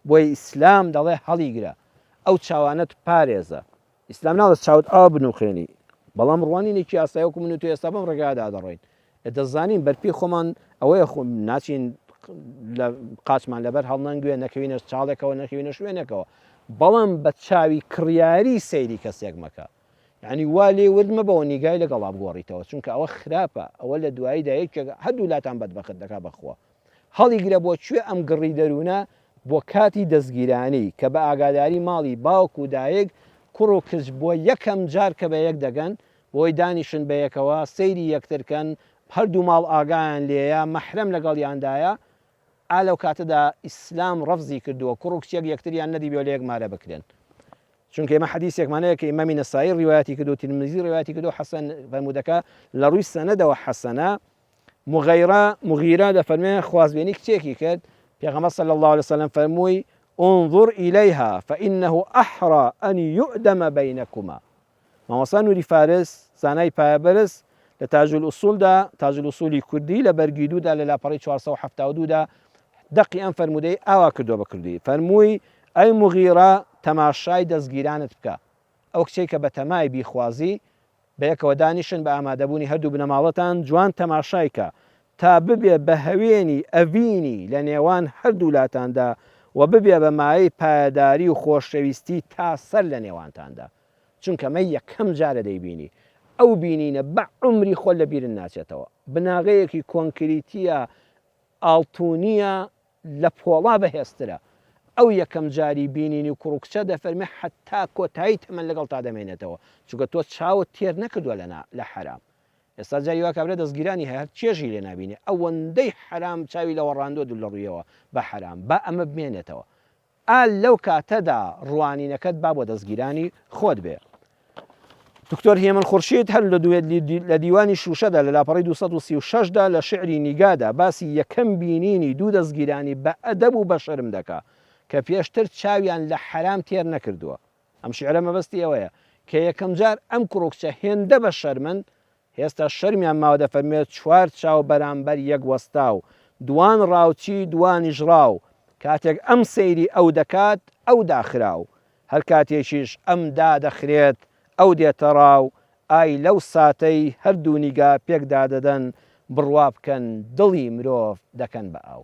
بۆیە ئیسلام دەڵێ هەڵیگرە ئەو چاوانەت پارێزە. ئیسلام ناڵێ چاوت ئاوا بنووقێنی. بەڵام ڕوانینێکی ئاسای وەکو من و تۆ ئێستا بەم ڕێگایەدا دەڕۆین. دەزانین بەرپێی خۆمان ئەوەیە خۆ ناچین لە قاچمان لەبەر هەڵنەنگوێ نەکەوینە چاڵێکەوە نەکەوینە شوێنێکەوە. بەڵام بە چاوی کڕیاری سەیری کەسێک مەکە. یعنی وا لێ ورد مەبەوە نیگای لەگەڵا بگۆڕیتەوە چونکە ئەوە خراپە ئەوە لە دواییدا یەکێک هەردوو لاتان بەدبەخت دەکا بەخوا هەڵیگرە بۆ کوێ ئەم گڕی دەروونە بۆ کاتی دەستگیرانی کە بە ئاگاداری ماڵی باوک و دایک کوڕ و کچ بۆ یەکەم جار کە بە یەک دەگەن بۆی دانیشن بە یەکەوە سەیری یەکتر کەن هەر دوو ماڵ ئاگایان لێیە مەحرەم لەگەڵیاندایە ئا لەو کاتەدا ئیسلام ڕەفزی کردووە کوڕ و کچێک یەکتریان نەدیبێ و لە یەک مارە بکرێن چونکە ئێمە حەدیسێکمان هەیە کە ئیمامی نەسائی ڕیوایەتی کردووە ترمزی ڕیوایەتی کردووە حەسەن فەرموودەکە لە ڕووی سەنەدەوە حەسەنە موغیرە، مغیرە، دەفەرموێ، خوازبێنی کچێکی کرد، پێغەمبەر صلی اللە علیە وسلم فەرمووی، انظر الیها فانه احری ان یؤدم بینکما. مامۆستا نوری فارس، زانای پایەبەرز، لە تاج الاصول دا، تاج الاصول کوردی، لە بەرگی دوو دا لە لاپەڕەی چوار سەد و حەفتا و دوو دا دەقی ئەم فەرموودەی ئاوا کردووە بە کوردی، فەرمووی، ئەی موغیرە تەماشای دەزگیرانت بکە، ئەو کچەی کە بەتەمای بیخوازی بەیەکەوە دانیشن بە ئامادەبوونی هەردوو بنەماڵەتان جوان تەماشای کە تا ببێ بە هەوێنی ئەڤینی لە نێوان هەردوولاتاندا و ببێ بە مایەی پایەداری و خۆشەویستی تا سەر لە نێوانتاندا چونکە مە یەکەم جارە دەیبینی ئەو بینینە بە عومری خۆ لە بیرن ناچێتەوە بناغەیەکی کۆنکریتیە ئاڵتونیە لە پۆڵا بەهێزترە. ئەو یەکەم جاری بینینی کوڕ و کچە دەفەرمێ حەتا کۆتایی تەمەن لەگەڵتا دەمێنێتەوە، چونکە تۆ چاوت تێر نەکردوە لە نا لە حەرام. ئێستا جاری وا کابرا دەزگیرانی هەیە هەر چێژی لێ نابینێ، ئەوەندەی حەرام چاوی لەوەڕاندوە دوور لە ڕوویەوە بە حەرام، با ئەمە بمێنێتەوە. ئا لەو کاتەدا ڕوانینەکەت با بۆ دەستگیرانی خۆت بێ. دکتۆر هێمن خورشید هەر لە دوێت لە دیوانی شووشەدا لە لاپەڕەی دوو سەد و سی و شەش دا لە شیعری نیگادا باسی یەکەم بینینی دوو دەستگیرانی بە ئەدەب و بە شەرم دەکا کە پێشتر چاویان لە حەرام تێر نەکردووە. ئەم شیعرە مەبەستی ئەوەیە کە یەکەمجار ئەم کڕوکچە هێندە بە شەرمن هێستا شەرمیان ماوە دەفەرموێت چوار چاو بەرامبەر یەک وەستاو دوان ڕاوچی دوانیش ڕاو کاتێک ئەم سەیری ئەو دەکات ئەو داخراو هەر کاتێکیش ئەم دادەخرێت ئەو دێتە ڕاو ئای لەو ساتەی هەردوو نیگا پێک دادەدەن بڕوا بکەن دڵی مرۆڤ دەکەن بە ئاو.